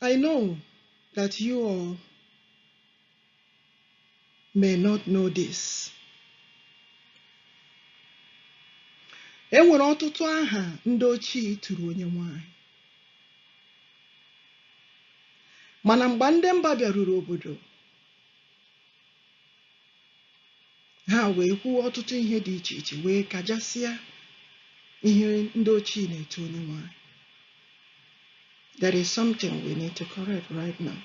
I know that you all may not know this. E nwere ọtụtụ aha ndị ochie tụrụ onye nwanyị. Mana mgbe ndị mba bịaruru obodo, ha wee kwuo ọtụtụ ihe dị iche iche wee kajasịa ihe ndị ochie na-eto onye nwanyị there is something we need to correct right now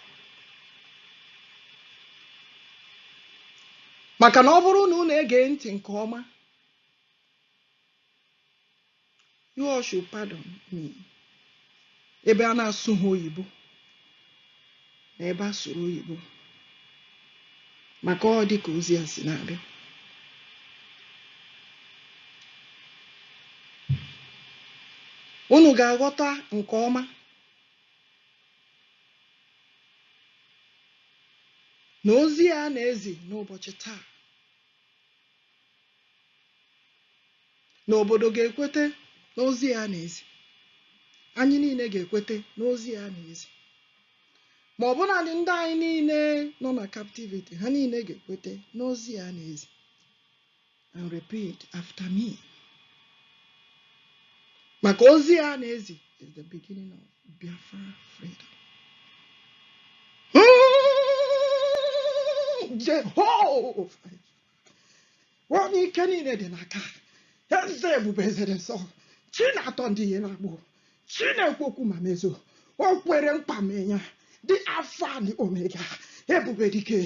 maka na ọ bụrụ na unu ege ntị nke ọma You all should pardon me. Ebe a na-asụ ha oyibo na ebe a sụrụ oyibo maka ọ dị ka ozi a si na-abịa. Unu ga-aghọta nke ọma na ozi a na-ezi n'ụbọchị taa na obodo ga-ekwete n'ozi a a na-ezi anyị niile ga-ekwete n'ozi a a na-ezi ma ọbụnadị ndị anyị niile nọ na captivity ha niile ga-ekwete n'ozi a a na-ezi and repeat after me maka ozi a a na-ezi is the beginning of Biafra freedom Jehova onye ike niile dị n'aka eze ebube eze dị nsọ chi na-atọ ndị ihe na-agbụ chi na-ekwu okwu ma mezuo o kwere nkwa mee ya the alpha and omega ebube dike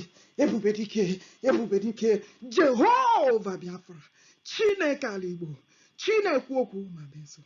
ebube dike ebube dike jehova biafra chineke ala igbo chi na-ekwu okwu ma mezuo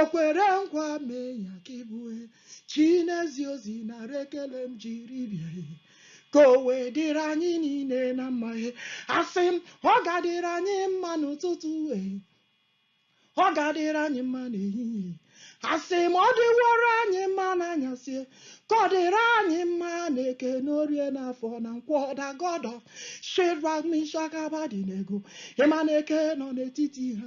o kwere nkwa mee ya ka ị bụ chi na-ezi ozi nara ekele m jiri bịa ka o wee dịrị anyị niile na mma asị m ọ ga-adịrị anyị mma n'ụtụtụ e ọ ga-adịrị anyị mma n'ehihie asị m ọ dịworo anyị mma n'anyasị ka ọ dịrị anyị mma n'eke n'orie n'afọ na nkwọ the God of Shadrach Meshach Abednego Immanuel nke nọ n'etiti ha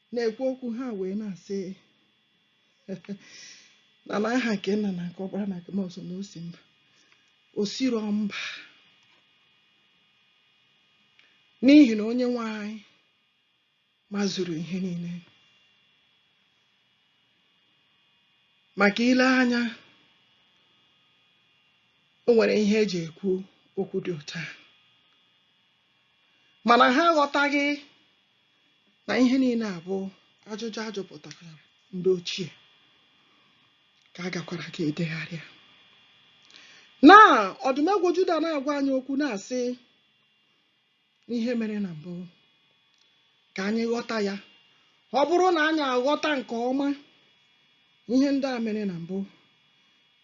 Na-ekwu okwu ha wee na-asị na n'aha nke nna na nke ọkpara na nke mmụọ nsọ na o si mba o siro mba n'ihi na onye nwe anyị mazuru ihe niile maka i lee anya o nwere ihe e ji ekwu okwu dị otu a mana ha aghọtaghị na ihe niile a bụ ajụjụ ajụpụtara ndị ochie ka a gakwara ka edegharịa na ọdụmegwu Juda na-agwa anyị okwu na-asị ihe mere na mbụ ka anyị ghọta ya ọ bụrụ na anyị aghọta nke ọma ihe ndị a mere na mbụ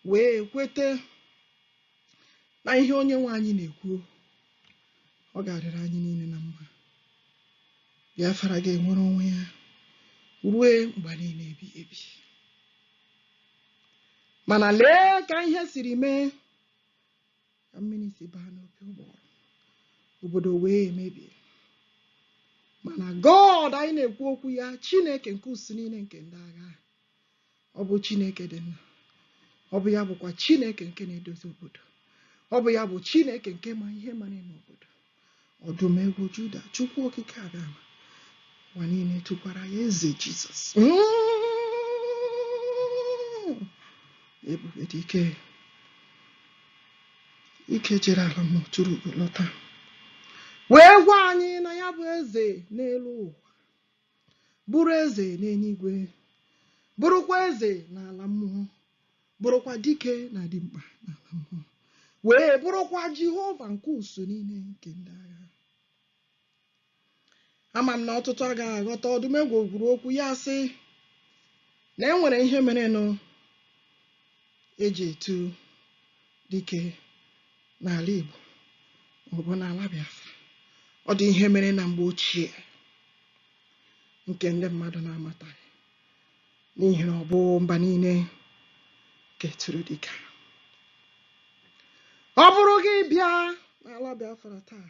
wee kwete na ihe onye nwe anyị na-ekwu ọ ga-adịrị anyị niile na mma Biafra ga-enwere onwe ya rue mgbe niile ebi ebi mana lee ka ihe siri mee ka mmiri si baa n'opi ụgbọrọ obodo wee mebie mana God anyị na-ekwu okwu ya Chineke nke usuu niile nke ndị agha ọ bụ Chineke dị mma ọ bụ ya bụkwa Chineke nke na-edozi obodo ọ bụ ya bụ Chineke nke ma ihe mara n'obodo ọdụm egwu Juda Chukwu okike abịama ụwa niile tụkwara ya eze Jizọs ebube dike jere ala mmụọ tụrụ ugo lọta wee gwa anyị na ya bụ eze n'elu ụwa bụrụ eze n'eluigwe bụrụkwa eze n'ala mmụọ bụrụkwa dike na dimkpa n'ala mmụọ wee bụrụkwa Jehova nke usuu niile nke ndị agha ama m na ọtụtụ agaghị aghọta ọdụmegwu kwuru okwu ya sị na e nwere ihe merenụ eji etu dike n'ala Igbo maọbụ n'ala Biafra ọ dị ihe mere na mgbe ochie nke ndị mmadụ na-amataghị n'ihi na ọ bụ mba niile keturu dịka ọ bụrụ gị bịa n'ala Biafra taa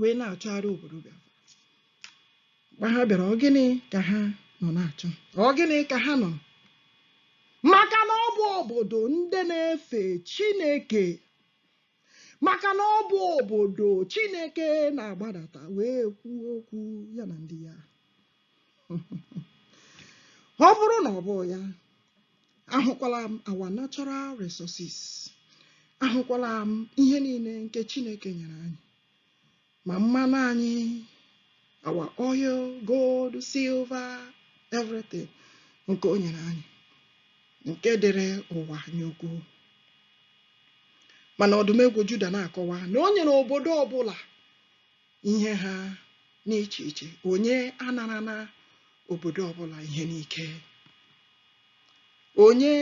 wee na-achọgharị obodo Biafra mgbe ha bịara ọ gịnị ka ha nọ na-achọ ọ gịnị ka ha nọ maka na ọ bụ obodo ndị na-efe Chineke maka na ọ bụ obodo Chineke na-agbadata wee kwuo okwu ya na ndị ya ọ bụrụ na ọ bụ ya ahụkwala m our natural resources ahụkwala m ihe niile nke Chineke nyere anyị ma mmanụ anyị our oil gold silver everything nke o nyere anyị nke dịrị ụwa anya ukwu mana ọdụmegwu Juda na-akọwa na o nyere obodo ọbụla ihe ha n'iche iche onye anarana obodo ọbụla ihe n'ike onye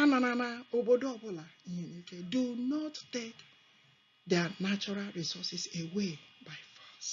anarana obodo ọbụla ihe n'ike do not take their natural resources away by force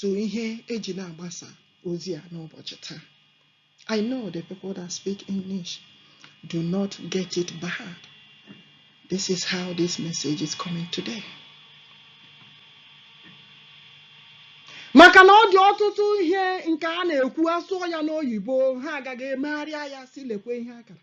to ihe eji na-agbasa ozi a n'ụbọchị taa I know the people that speak English do not get it but this is how this message is coming today. maka na ọ dị ọtụtụ ihe nke a na-ekwu asụọ ya n'oyibo ha agaga emegharịa ya sị lekwe ihe a kara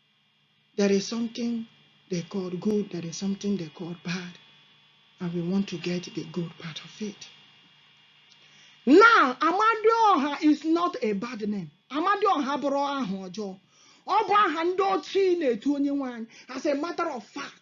There is something they call good, there is something they call bad, and we want to get the good part of it. Now, Amadioha is not a bad name. Amadioha abụrọ aha ọjọọ. Ọ bụ aha ndị ochie na-etu onye nwe anyị as a matter of fact.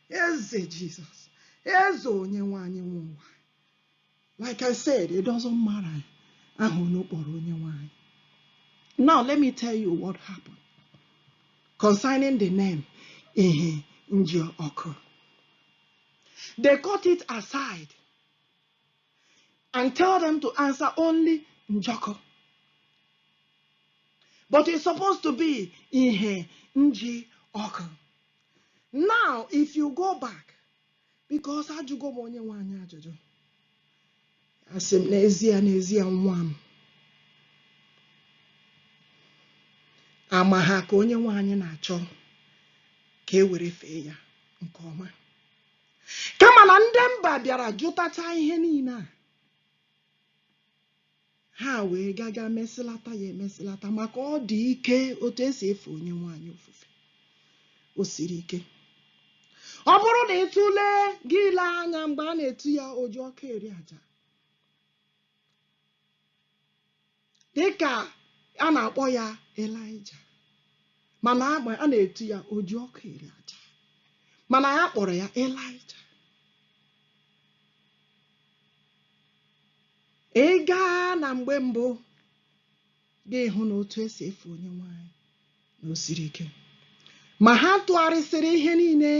Eze Jizọs, eze onye nwe anyị nwe ụwa. Like I said, it doesn't matter aha onye kpọrọ onye nwe anyị. Now let me tell you what happened concerning the name ihe nji ọkụ. They cut it aside and tell them to answer only Njọkụ. But it's supposed to be Ihe Nji Ọkụ. Now, if you go back, because ajụgo m onye nwe anyị ajụjụ, asị m n'ezia n'ezia nwa m ama ha ka onye nwe anyị na-achọ ka e were fee ya nke ọma kama na ndị mba bịara jụtacha ihe niile a Ha wee gaga mesịlata ya emesịlata maka ọ dị ike otu esi efe onye nwe anyị ofufe. O siri ike. Ọ bụrụ na ị tụlee gị ile anya mgbe a na-etu ya oji ọkụ eri aja dịka a na-akpọ ya Elaịja mana a na-etu ya oji ọkụ eri aja mana a kpọrọ ya Elaịja ị gaa na mgbe mbụ gị ahụ na otu esi efe onye nwe anyị na o siri ike ma ha tụgharịsịrị ihe niile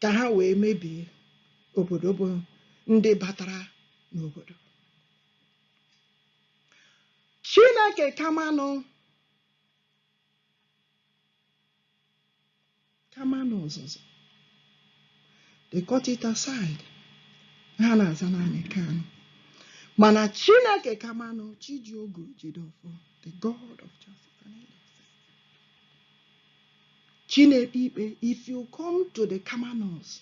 ka ha wee mebie obodo bụ ndị batara n'obodo chineke kamanụ Kamanụ Ọzụzụ they cut it aside ha na-aza naanị Kanu mana Chineke Kamanụ Chi ji ogu jide ọfọ the God of justice and injustice Chineke ikpe if you come to the Kamanos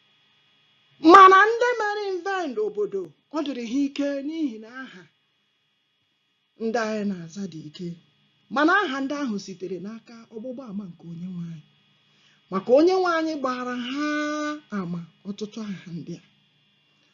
mana ndị mere invade obodo ọ dịrị ha ike n'ihi na aha ndị anyị na-aza dị ike mana aha ndị ahụ sitere n'aka ọgbụgba ama nke onye nwe anyị maka onye nwe anyị gbara ha ama ọtụtụ aha ndị a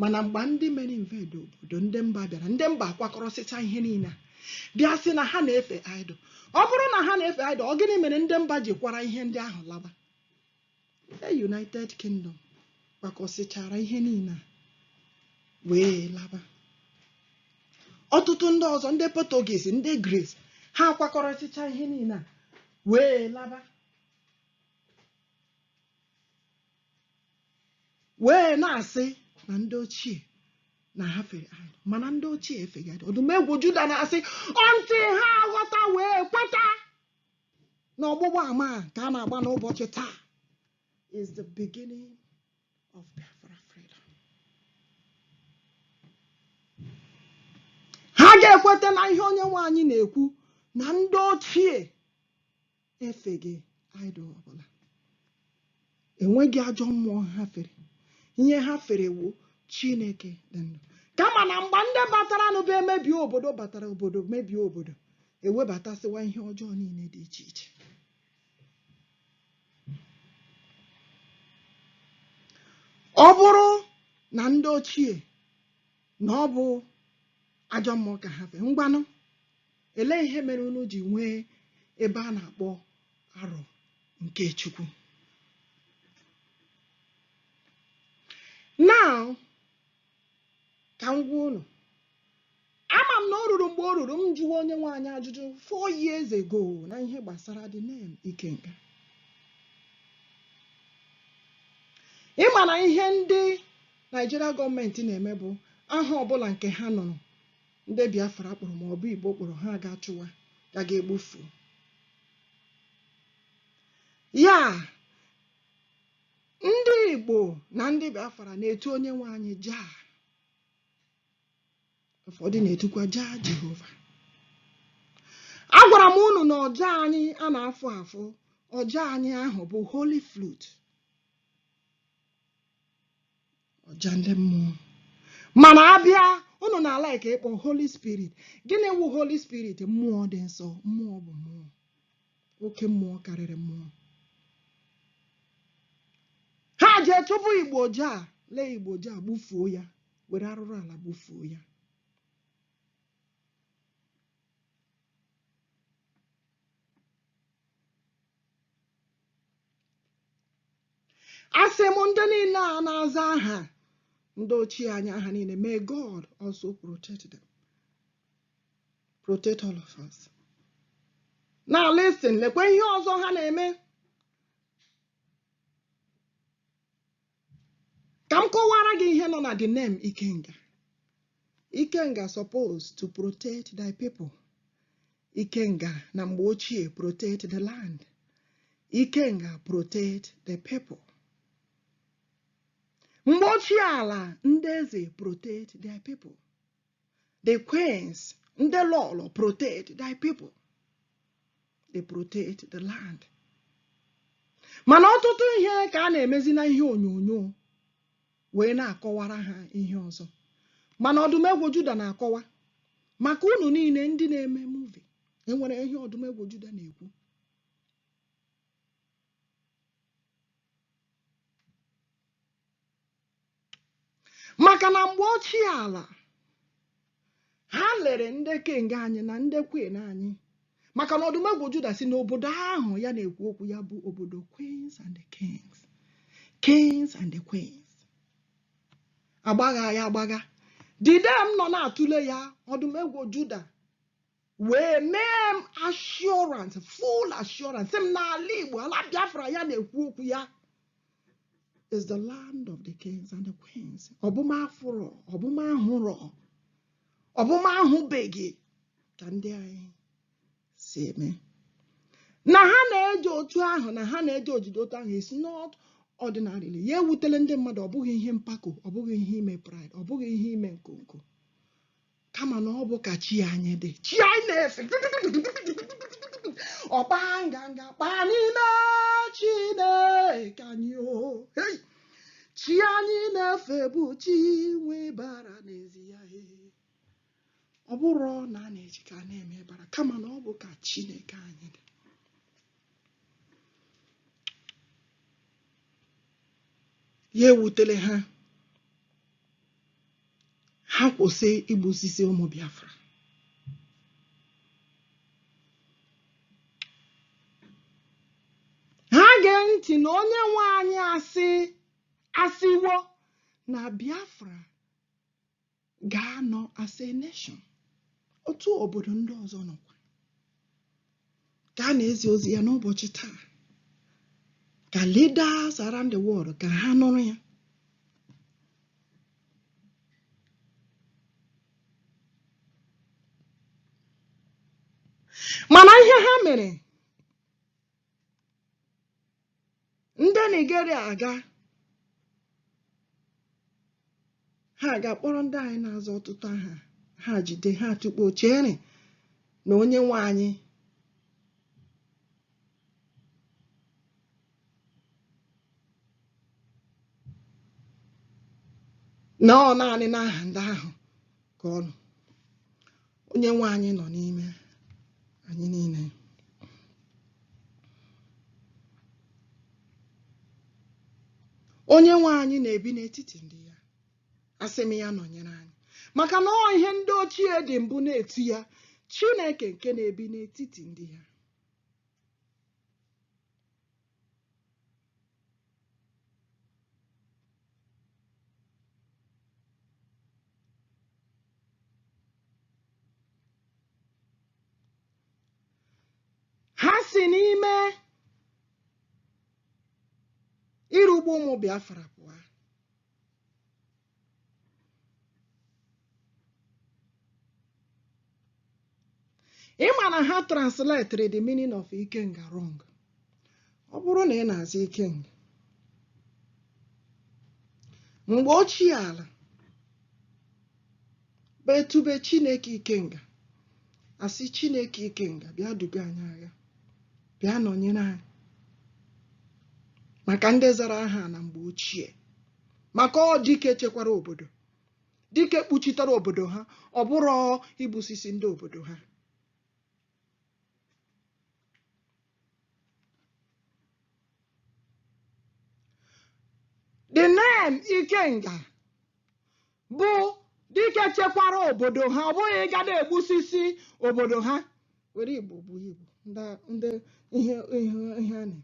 mana mgbe ndị mere invade obodo ndị mba bịara ndị mba akwakọrọsịcha ihe niile bịa sị na ha na-efe idol ọ bụrụ na ha na-efe idol ọ gịnị mere ndị mba ji kwara ihe ndị ahụ laba the United Kingdom kwakọsịchara ihe niile wee laba ọtụtụ ndị ọzọ ndị Portuguese ndị Greece ha akwakọrọsịcha ihe niile wee laba wee na-asị na ndị ochie na ha fere idol mana ndị ochie efeghị idol ọdụm egwu juda na-asị until ha ghọta wee kweta na ọgbụgba ama a ka a na-agba n'ụbọchị taa is the beginning of Biafra freedom. ha ga-ekweta na ihe onye nwe anyị na-ekwu na ndị ochie efeghị idol ọbụla enweghị ajọ mmụọ ha fere ihe ha fere wu chineke dị ndụ kama na mgbe ndị batara n'ụba emebie obodo batara obodo mebie obodo ewebatasịwa ihe ọjọọ niile dị iche iche ọ bụrụ na ndị ochie na ọ bụ ajọ mmụọ ka ha fere ngwanụ Elee ihe mere unu ji nwee ebe a na-akpọ Arọ nke Chukwu? Now, ka m gwa unu ama m na o ruru mgbe o ruru m jụwa onye nwe anyị ajụjụ four years ago na ihe gbasara the name Ikenga ị ma na ihe ndị Naịjirịa gọọmenti na-eme bụ aha ọbụla nke ha nụrụ ndị Biafra kpọrọ ma ọ bụ Igbo kpọrọ ha agaa chụwa ka a ga-egbufu ya ndị Igbo na ndị Biafra na-etu onye nwe anyị Jah ụfọdụ na-etukwa Jah Jehova agwara m unu na ọja anyị a na-afụ afụ ọja anyị ahụ bụ holy flute ọja ndị mmụọ mana abịa unu na-ala ike ịkpọ holy spirit gịnị wụ holy spirit mmụọ dị nsọ mmụọ bụ mmụọ oke mmụọ karịrị mmụọ ha jee chụpụ Igbo Jah lee Igbo Jah gbufuo ya were arụrụ ala gbufuo ya asị m ndị niile a na-aza aha ndị ochie anyị aha niile may God also protect them protect all of us now listen lekwa ihe ọzọ ha na-eme ka m kọwara gị ihe nọ na the name ikenga ikenga suppose to protect their people ikenga na mgbe ochie protect the land ikenga protect the people mgbe ochie ala ndị eze protect their people the queens ndị lọlọ protect their people they protect the land mana ọtụtụ ihe ka a na-emezi na ihe onyonyo wee na-akọwara ha ihe ọzọ mana ọdụmegwu juda na-akọwa maka unu niile ndị na-eme movie enwere ihe ọdụmegwu juda na-ekwu maka na mgbe ochie ala ha lere ndị king anyị na ndị queen anyị maka na ọdụmegwu juda si n'obodo ahụ ya na-ekwu okwu ya bụ obodo queens and the kings kings and the queens agbagha ya agbagha dide m nọ na-atụle ya ọdụmegwu juda wee mee m assurance full assurance sị m n'ala Igbo ala Biafra ya na-ekwu okwu ya is the land of the kings and the queens ọ bụ ma afụrọ ọ bụ ma ahụrọ ọ bụ ma ahụbeghị ka ndị anyị si eme na ha na-eji otu ahụ na ha na-eji ejiji otu ahụ is not ordinarily ya ewutele ndị mmadụ ọ bụghị ihe mpako ọ bụghị ihe ime pride ọ bụghị ihe ime nkonko kama na ọ bụ ka chi anyị dị chi anyị na-efe ọkpa nganga kpa n'ime Chineke anyị o chi anyị na-efe bụ chi nwe bara n'ezi ya ọ bụrụ na a na-eji ka na-eme bara kama na ọ bụ ka Chineke anyị dị ya ewutele ha ha kwụsị igbusisi ụmụ Biafra ha gee ntị na onye nwe anyị asị asịwo na Biafra ga-anọ as a nation otu obodo ndị ọzọ nọkwa ka a na-ezi ozi ya n'ụbọchị taa ka leaders around the world ka ha nụrụ ya mana ihe ha mere ndị Nigeria aga ha ga-akpọrọ ndị anyị na-aza ọtụtụ aha ha jide ha tụkpọọ chere na onye nwe anyị na ọ naanị n'aha ndị ahụ ka ọ nọ onye nwe anyị nọ n'ime anyị niile onye nwe anyị na-ebi n'etiti ndị ya asị m ya nọnyere anyị maka na ọ ihe ndị ochie dị mbụ na-etu ya chineke nke na-ebi n'etiti ndị ya ha si n'ime ịrụgbu ụmụ Biafra pụọ ị ma na ha translated the meaning of ikenga wrong ọ bụrụ na ị na-aza ikenga mgbe ochie ala betube chineke ikenga a sị chineke ikenga bịa duga anyị agha bịa nọnyere anyị maka ndị zara aha na mgbe ochie maka ọ dike chekwara obodo dike kpuchitere obodo ha ọ bụghị igbusisi ndị obodo ha the name ikenga bụ dike chekwara obodo ha ọ bụghị ịga na-egbusisi obodo ha were igbo bụ igbo ndị ndị ihe ihe ihe a na-eme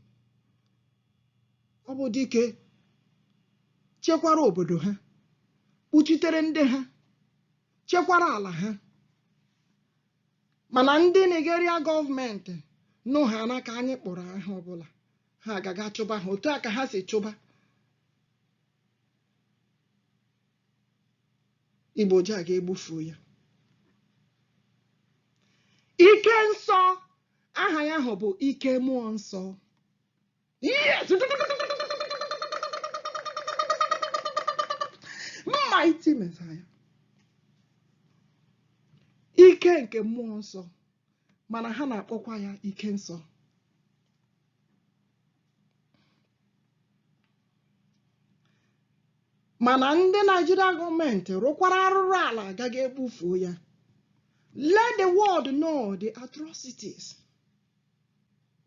ọ bụ dike chekwara obodo ha kpuchitere ndị ha chekwara ala ha mana ndị Nigeria gọọmenti nụhana ka anyị kpọrọ aha ọbụla ha agaga chụba ha otu a ka ha si chụba igbo ji a ga-egbufu ya ike nsọ aha ya ahụ bụ ike mmụọ nsọ yes mighty messiah ike nke mmụọ nsọ mana ha na-akpọkwa ya ike nsọ mana ndị naijiria gọọmenti rụkwara arụrụ ala agaghị egbufuo ya let the world know the atrocities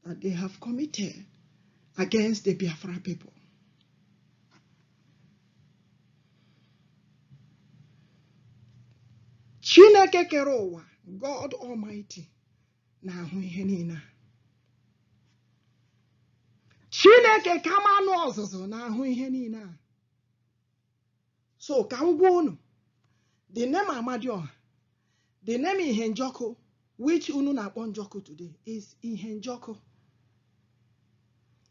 that they have committed against the biafra people chineke kere ụwa god almighty na-ahụ ihe niile a chineke kamanụ ozuzu na-ahụ ihe niile a so ka m gwa unu the name amadioha the name ihe njọkụ which unu na-akpọ njọkụ today is ihe njọkụ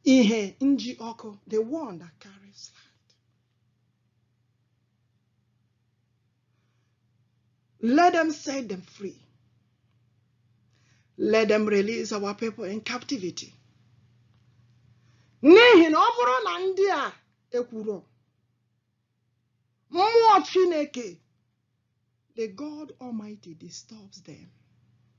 ihe nji ọkụ the one that carries light Let them set them free. Let them release our people in captivity. N'ihi na ọ bụrụ na ndị a ekwuru mmụọ Chineke the God Almighty disturbs them.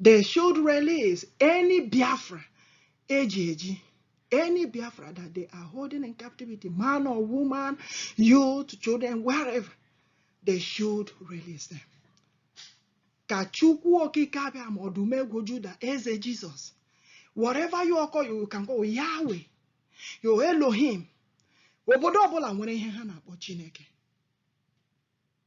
they should release any Biafra eji eji any Biafra that they are holding in captivity man or woman youth children wherever they should release them ka Chukwu okike abịama ọdụm ebo Juda eze Jizọs whatever you call you can call Yahweh yo Elohim obodo ọbụla nwere ihe ha na-akpọ Chineke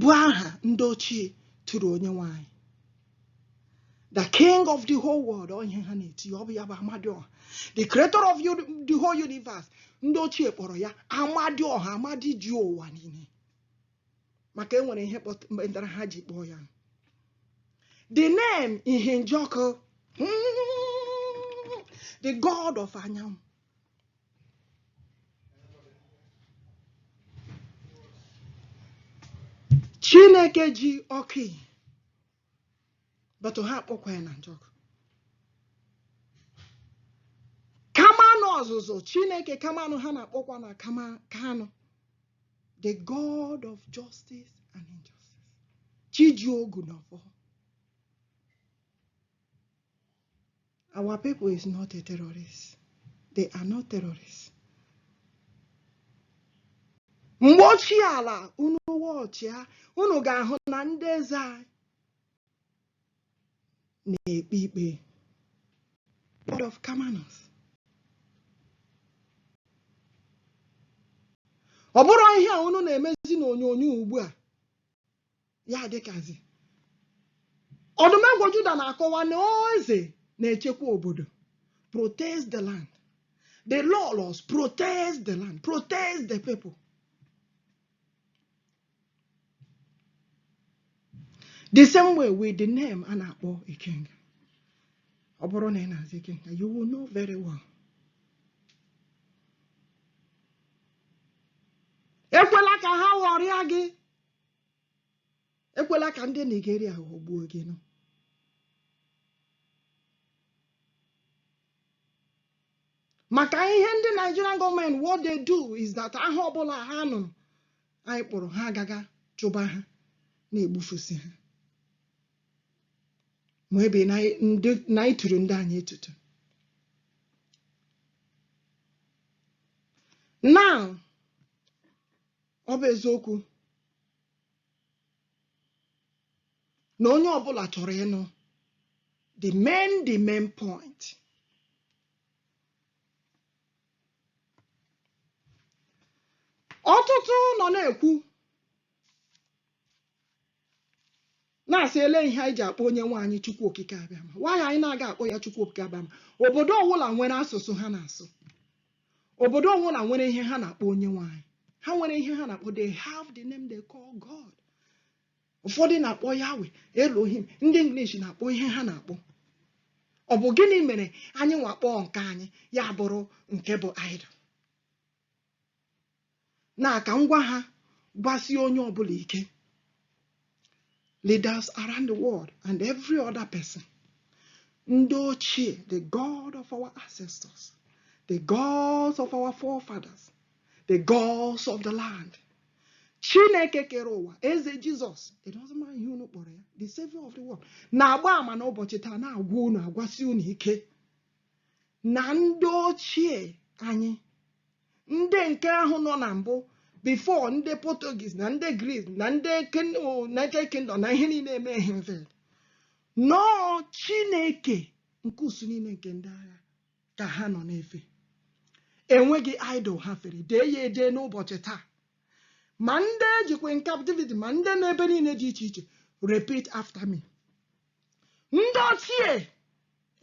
bụ aha ndị ochie tụrụ onye nwe anyị the king of the whole world ọ ihe ha na-eti ọ bụ ya bụ amadioha the creator of the whole universe ndị ochie kpọrọ ya amadioha amadi ji ụwa niile maka e nwere ihe kpatara ha ji kpọọ ya the name ihe njọkụ hmm, the god of anyanwụ chineke ji ọkụ ihe but ha akpọkwa ya na njọkụ kamanụ ozuzu chineke kamanụ ha na-akpọkwa na kama kanụ the god of justice and injustice chi ji ogu na ọfọ Our people is not a terrorist. They are not terrorists. mgbe ochie ala unu watchịa unu ga-ahụ na ndị eze anyị na-ekpe ikpe Lord of Kamanus ọ bụrụ ihe a unu na-emezi n'onyonyo ugbu a ya dịkazi ọdụmegwu Juda na-akọwa na eze na-echekwa obodo protect the land the laws protect the land protect the people the same way with the name a na-akpọ ikenga ọ bụrụ na ị na-aza ikenga you will know very well ekwela ka ha ghọrịa gị ekwela ka ndị Nigeria ghọgbuo gị nụ maka ihe ndị Nigerian government what they do is that aha ọbụla ha nụrụ anyị kpọrọ ha agaga chụba ha na-egbufusi ha maybe na-atụrụ ndị anyị atụtụ now ọ bụ eziokwu na onye ọbụla chọrọ ịnụ the main the main point ọtụtụ nọ na-ekwu na-asị ele ihe anyị ji akpọ onye nwe anyị chukwu okike abịama why anyị na-aga akpọ ya chukwu okike abịama obodo ọwụla nwere asụsụ ha na-asụ obodo ọwụla nwere ihe ha na-akpọ onye nwe anyị ha nwere ihe ha na-akpọ they have the name they call God ụfọdụ na-akpọ Yahweh Elohim ndị English na-akpọ ihe ha na-akpọ ọ bụ gịnị mere anyị nwa kpọọ nke anyị ya bụrụ nke bụ idol na ka m gwa ha gwasie onye ọbụla ike leaders around the world and every other person ndị ochie the god of our ancestors the gods of our forefathers the gods of the land chineke kere ụwa eze jizọs it doesn't matter ihe unu kpọrọ ya the savior of the world na-agba ama n'ụbọchị taa na-agwa unu agwasi unu ike na ndị ochie anyị ndị nke ahụ nọ na mbụ before ndị Portuguese na ndị Greece na ndị United Kingdom na ihe niile eme ihe mfe no Chineke nke usuu niile nke ndị agha ka ha nọ na-efe enweghị idol ha fere dee ya edee n'ụbọchị taa ma ndị e jikwa in captivity ma ndị n'ebe niile dị iche iche repeat after me ndị ochie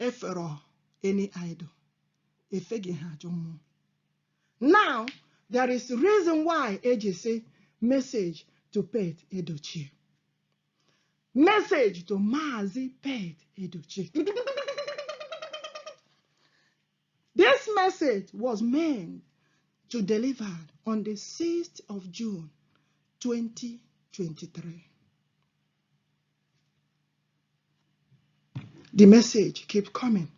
efere any idol efeghị ha ajọ mmụọ now there is reason why eji sị message to pete edochie message to maazị pete edochie This message was meant to deliver on the 6th of June 2023. The message keep coming.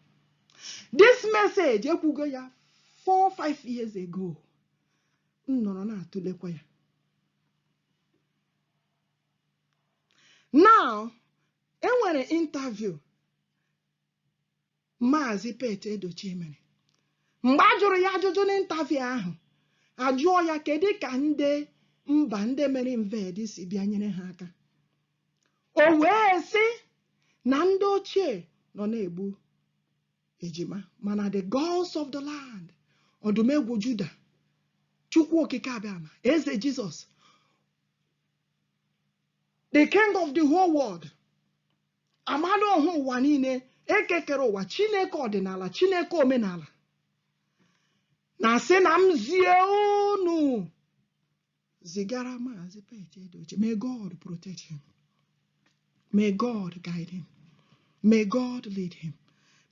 This message ekwugo ya 4 5 years ago. M nọrọ na-atụlekwa ya. Now, enwere interview Maazị Pete Edochie mere mgbe a jụrụ ya ajụjụ n'interview ahụ ajụọ ya kedu ka ndị mba ndị mere invade si bịa nyere ha aka o wee sị na ndị ochie nọ na-egbu ejima mana the gods of the land ọdụmegwu juda chukwu okike abịama eze jesus the king of the whole world amala ọha ụwa niile ekekere ụwa chineke ọdịnala chineke omenala na-asị na m zie unu zigara maazị Pete Edochie may God protect him may God guide him may God lead him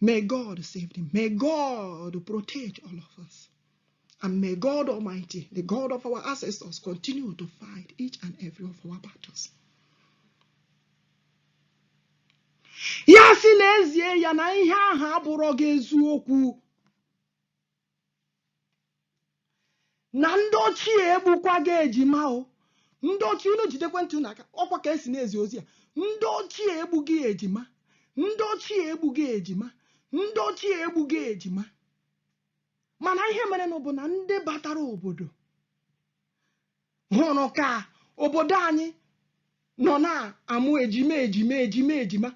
may God save him may God protect all of us And may God Almighty, the God of our ancestors, continue to fight each and every of our battles. ya sị na ezie ya na ihe ahụ abụrọghị eziokwu na ndị ochie egbukwaghị ejima o ndị ochie unu jidekwe ntị unu aka ọkwa ka esi na-ezi ozi a ndị ochie egbughị ejima ndị ochie egbughị ejima ndị ochie egbughị ejima mana ihe merenụ bụ na ndị batara obodo hụrụ ka obodo anyị nọ na-amụ ejima ejima ejima ejima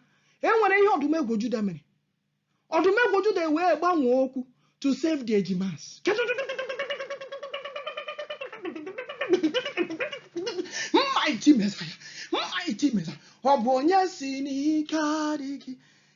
e nwere ihe ọdụmegwu juda mere ọdụmegwu juda wee gbanwee okwu to save the ejimas mighty messiah mighty messiah ọ bụ onye sị n'ike adịghị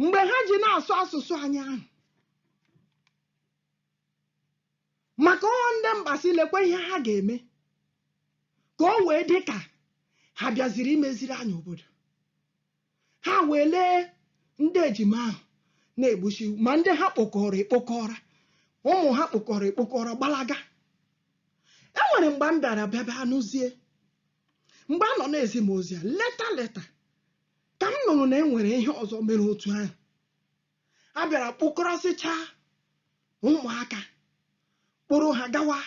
mgbe ha ji na-asụ asụsụ anyị ahụ maka ọ ndị mba sị lekwa ihe ha ga-eme ka o wee dị ka ha bịaziri imeziri anyị obodo ha wee lee ndị ejima ahụ na-egbusi ma ndị ha kpokọrọ ekpokọrọ ụmụ ha kpokọrọ ekpokọrọ gbalaga enwere mgbe m bịara bịaba anụzie mgbe a nọ na-ezi m ozi a later later ka m nụrụ na e nwere ihe ọzọ mere otu ahụ a bịara kpokọrọsịchaa ụmụaka kpọrọ ha gawa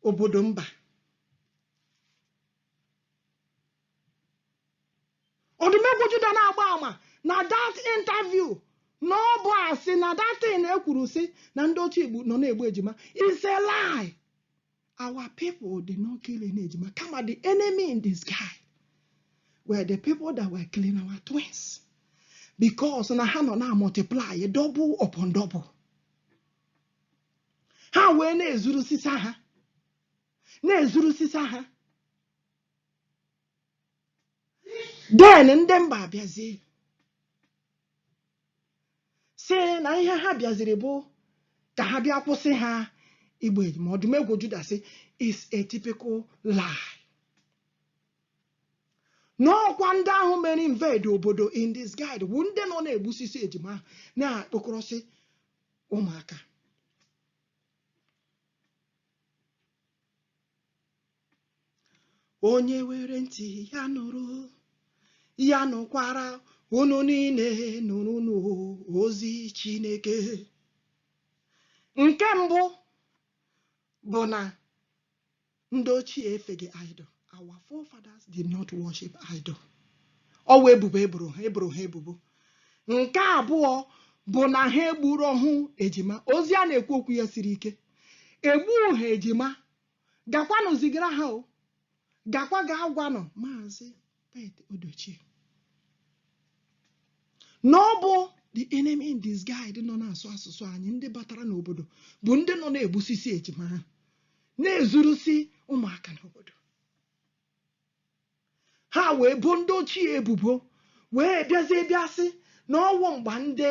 obodo mba ọdụmegwu juda na-agba ama na that interview na ọ bụ asị na that thing ekwuru sị na ndị ochie igbo nọ na-egbu ejima is a lie our people did not kill any ejima kama the enemy in disguise were the people that were killing our twins because na ha nọ na multiply double upon double ha wee na-ezurusisi ha na-ezurusisi ha then ndị mba abịazie sị na ihe ha bịaziri bụ ka ha bịa kwụsị ha igbu ejima ọdụmegwu juda sị is a typical lie na ọ kwa ndị ahụ mere invade obodo in disguise bụ ndị nọ na-egbusisi ejima ahụ na-akpọkọrọsị ụmụaka onye were ntị ya nụrụ ya nụkwara unu niile nụrụnụ ozi Chineke nke mbụ bụ na ndị ochie efeghị idol our forefathers did not worship idol ọ wụ ebubo e boro ha ebubo nke abụọ bụ na ha egburuhu ejima ozi a na-ekwu okwu ya siri ike egbughị ha ejima gakwanụ zigara ha o gakwa ga agwanụ maazị Pete Edochie na ọ bụ the enemy in disguise nọ na-asụ asụsụ anyị ndị batara n'obodo bụ ndị nọ na-egbusisi ejima ha na-ezurusi ụmụaka n'obodo ha wee bo ndị ochie ebubo wee bịazie bịa sị na ọ wụ mgbe ndị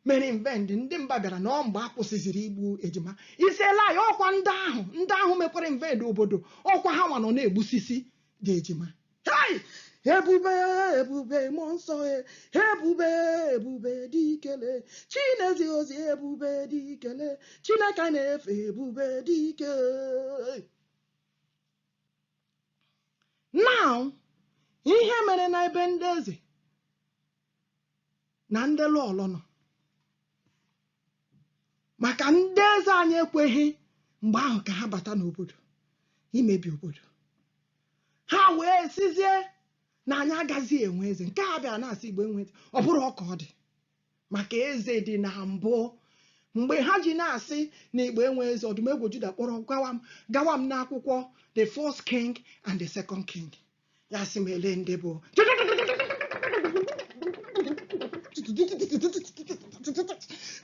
mere invade ndị mba bịara na ọ mgbe a kwụsịziri igbu ejima is a lie ọkwa ndị ahụ ndị ahụ mekwara invade obodo ọkwa ha nwa nọ na-egbusisi ndị ejima Hey! ebube ebube mmụọ nsọ e, ebube ebube dị ikele chinezi ozi ebube dị ikele chineke na-efe ebube dị ike now ihe mere na ebe ndị eze na ndị lọlọ nọ maka ndị eze anyị ekweghị mgbe ahụ ka ha bata n'obodo imebi obodo ha wee sịzie na anyị agaghị enwe eze nke a bịara na-asị igbo enwe eze ọ bụrọ ka ọ dị maka eze dị na mbụ mgbe ha ji na-asị na igbo enwe eze ọdụmegwu juda kpọrọ gawa m n'akwụkwọ the first king and the second king ya sị m ele ndị bụ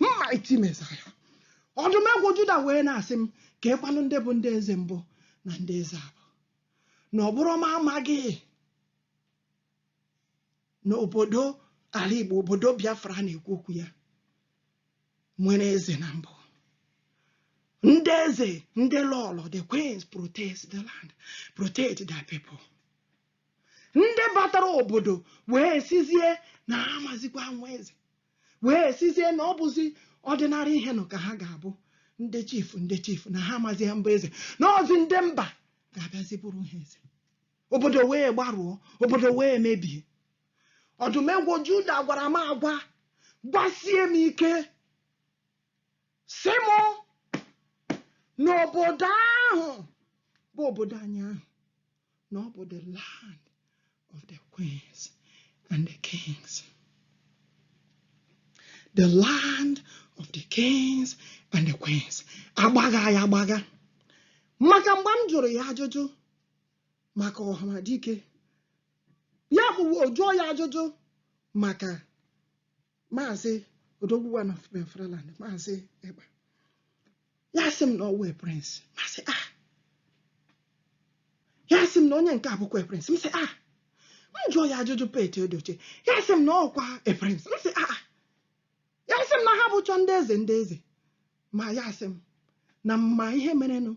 mighty messiah ọdụmegwu juda wee na-asị m keekwanụ ndị bụ ndị eze mbụ na ndị eze abụọ na ọ bụrụ m amaghị na obodo ala Igbo obodo Biafra a na-ekwu okwu ya nwere eze na mbụ ndị eze ndị lọlọ the queens protect the land protect the people ndị batara obodo wee sịzie na ha amazikwa nwe eze wee sịzie na ọ bụzi ordinary ihe nọ ka ha ga-abụ ndị chief ndị chief na ha amazi abụ eze na ọzi ndị mba ga-abịazi bụrụ ha eze obodo wee gbarụọ obodo wee mebie Ọdụm ebo Juda gwara m agwa gwasie m ike sị m na obodo ahụ bụ obodo anyị ahụ na ọ bụ the land of the queens and the kings the land of the kings and the queens agbagha ya agbagha maka mgbe m jụrụ ya ajụjụ maka Ọhamadike ya bụ jụọ ya ajụjụ maka maazị Odogwu na Biafraland maazị Ekpa ya sị m na ọ wụ prince m sị ah ya sị m na onye nke a bụkwa prince m sị ah m jụọ ya ajụjụ Pete Edochie ya sị m na ọkwa prince m sị ah ya sị m na ha bụcha ndị eze ndị eze ma ya sị m na m ma ihe merenụ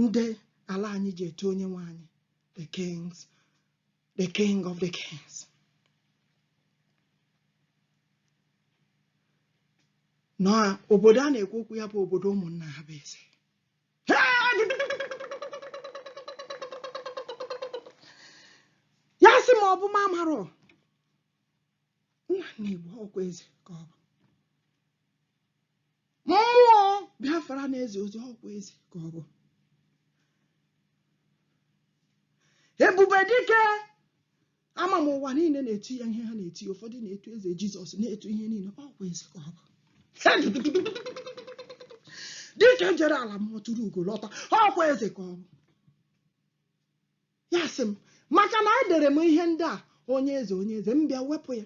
ndị ala anyị ji etu onye nwe anyị the king of the kings na obodo a na-ekwu okwu ya bụ obodo ụmụ nna ha bụ eze ya sị m ọ bụ m amarọ na nna Igbo ọkwa eze ka ọ bụ mmụọ Biafra na-ezi ozi ọkwa eze ka ọ bụ ebube dike ama m ụwa niile na-etu ya ihe ha na-eti ụfọdụ na-etu eze Jizọs na-etu ihe niile ọkwa eze ka ọ bụ dike jere ala mmụọ turu ugo lọta ọkwa eze ka ọ bụ ya sị m maka na edere m ihe ndị a onye eze onye eze m bịa wepụ ya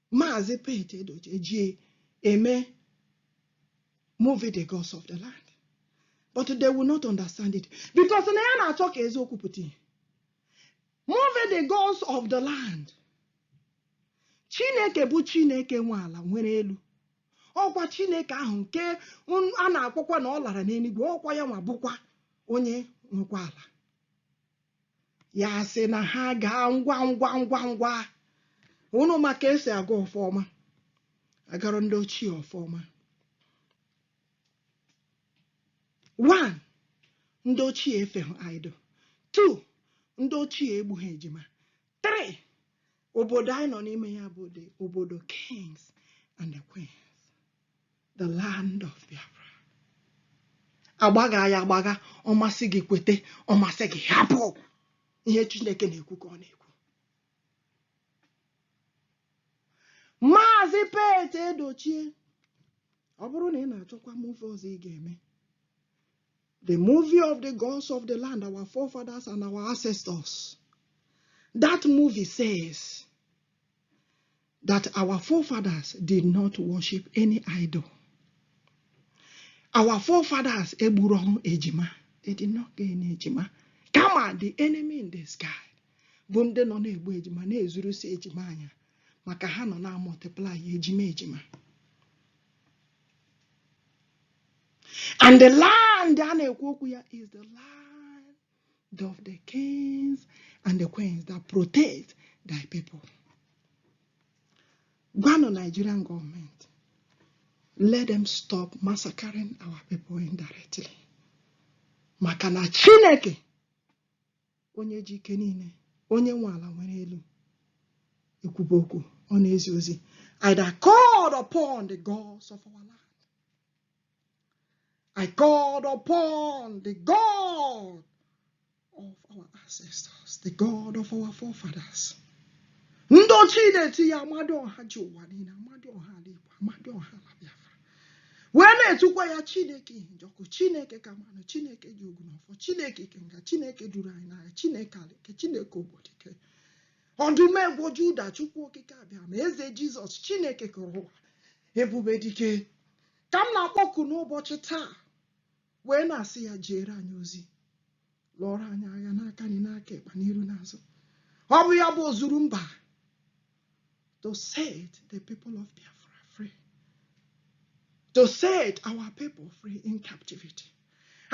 Maazị Pete Edochie ji eme movie the gods of the land but they will not understand it because na ya na-achọ ka eziokwu pụta ihe movie the gods of the land Chineke bụ Chineke nwe ala nwere elu ọkwa Chineke ahụ nke a na-akpọkwa na ọ lara n'eluigwe ọkwa ya nwa bụkwa onye nwekwa ala ya sị na ha gaa ngwa ngwa ụnụ ma ka esi agọ ọfọ ọma agọrọ ndị ochie ọfọ ọma one ndị ochie efeghị idol two ndị ochie egbughị ejima three obodo anyị nọ n'ime ya bụ obodo kings and the queens the land of Biafra agbagha ya agbagha ọ masị gị kwete ọ masị gị hapụ ihe Chineke na-ekwu ka ọ na-ekwu maazị Pete Edochie ọ bụrụ na ị na-achọkwa movie ọzọ ị ga-eme the movie of the gods of the land, our forefathers and our ancestors. That movie says, that our forefathers did not worship any idol. Our forefathers egburo ejima. They did not get any ejima. Kama the enemy in the sky bụ ndị nọ na-egbu ejima na-ezurusi ejima anya maka ha nọ na-amultiply ejima ejima. And the land a na-ekwu okwu ya is the land of the kings and the queens that protect thy people. Gwanụ Nigerian government, let them stop massacring our people indirectly. Maka na Chineke onye ji ike niile onye nwe ala nwere elu ekwuba okwu ọ na-ezi ozi I called upon the gods of our land I called upon the God of our ancestors, the God of our forefathers. Ndị ochie na-etu ya Amadịọha ji ụwa niile Amadịọha ala Igbo Amadịọha ala Biafra wee na-etukwa ya Chineke ihe njọkụ Chineke Kamanụ Chineke ji ogu na ọfọ Chineke Ikenga Chineke duru anyị n'agha Chineke alike Chineke ogbodike ọdụmegwu Juda Chukwu okike Abịama eze Jizọs Chineke kere ụwa ebube dike ka m na-akpọku n'ụbọchị taa wee na-asị ya jeere anyị ozi lụọrọ anyị agha n'aka nri n'aka ịkpa n'iru n'azụ ọ bụ ya bụ ozuru mba to set the people of Biafra free to set our people free in captivity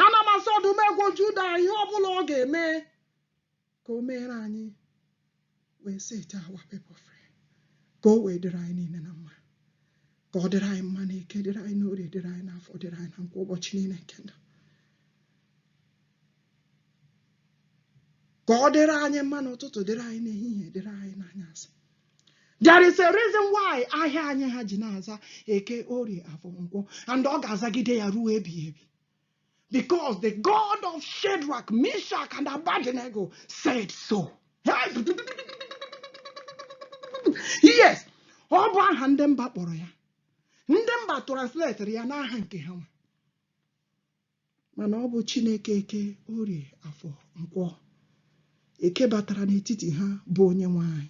ana m asị ọdụmegwu Juda ihe ọ bụla ọ ga-eme ka o meere anyị wee set our people free ka o wee dịrị anyị niile na mma ka ọ dịrị anyị mma na eke dịrị anyị n'orie dịrị anyị n'afọ dịrị anyị na nkwọ ụbọchị niile nke ndụ ka ọ dịrị anyị mma n'ụtụtụ dịrị anyị n'ehihie dịrị anyị n'anyasị there is a reason why ahịa anyị ha ji na-aza eke orie afọ nkwọ and ọ ga-azagide ya ruo ebighị ebi Because the God of Shadrach, Meshach, and Abednego said so. Yes, ọ bụ aha ndị mba kpọrọ ya. Ndị mba transletịrị ya n'aha nke ha nwe. Mana ọ bụ Chineke eke orie afọ nkwọ. Eke batara n'etiti ha bụ onye nwe anyị.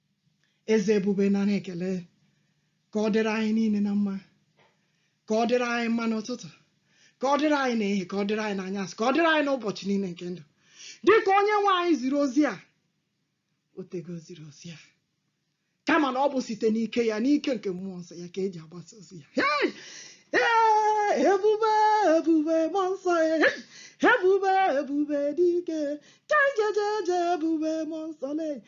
eze ebube nara ekele ka ọ dịrị anyị niile na mma ka ọ dịrị anyị mma n'ụtụtụ ka ọ dịrị anyị n'ehihie ka ọ dịrị anyị n'anyasị ka ọ dịrị anyị n'ụbọchị niile nke ndụ dịka onye nwe anyị ziri ozi a o tego ziri ozi a kama na ọ bụ site n'ike ya n'ike nke mmụọ nsọ ya ka e ji agbasa ozi ya Hey! Ee, ebube ebube mmụọ nsọ ya Hey! ebube ebube dike ka njejeje ebube mmụọ nsọ na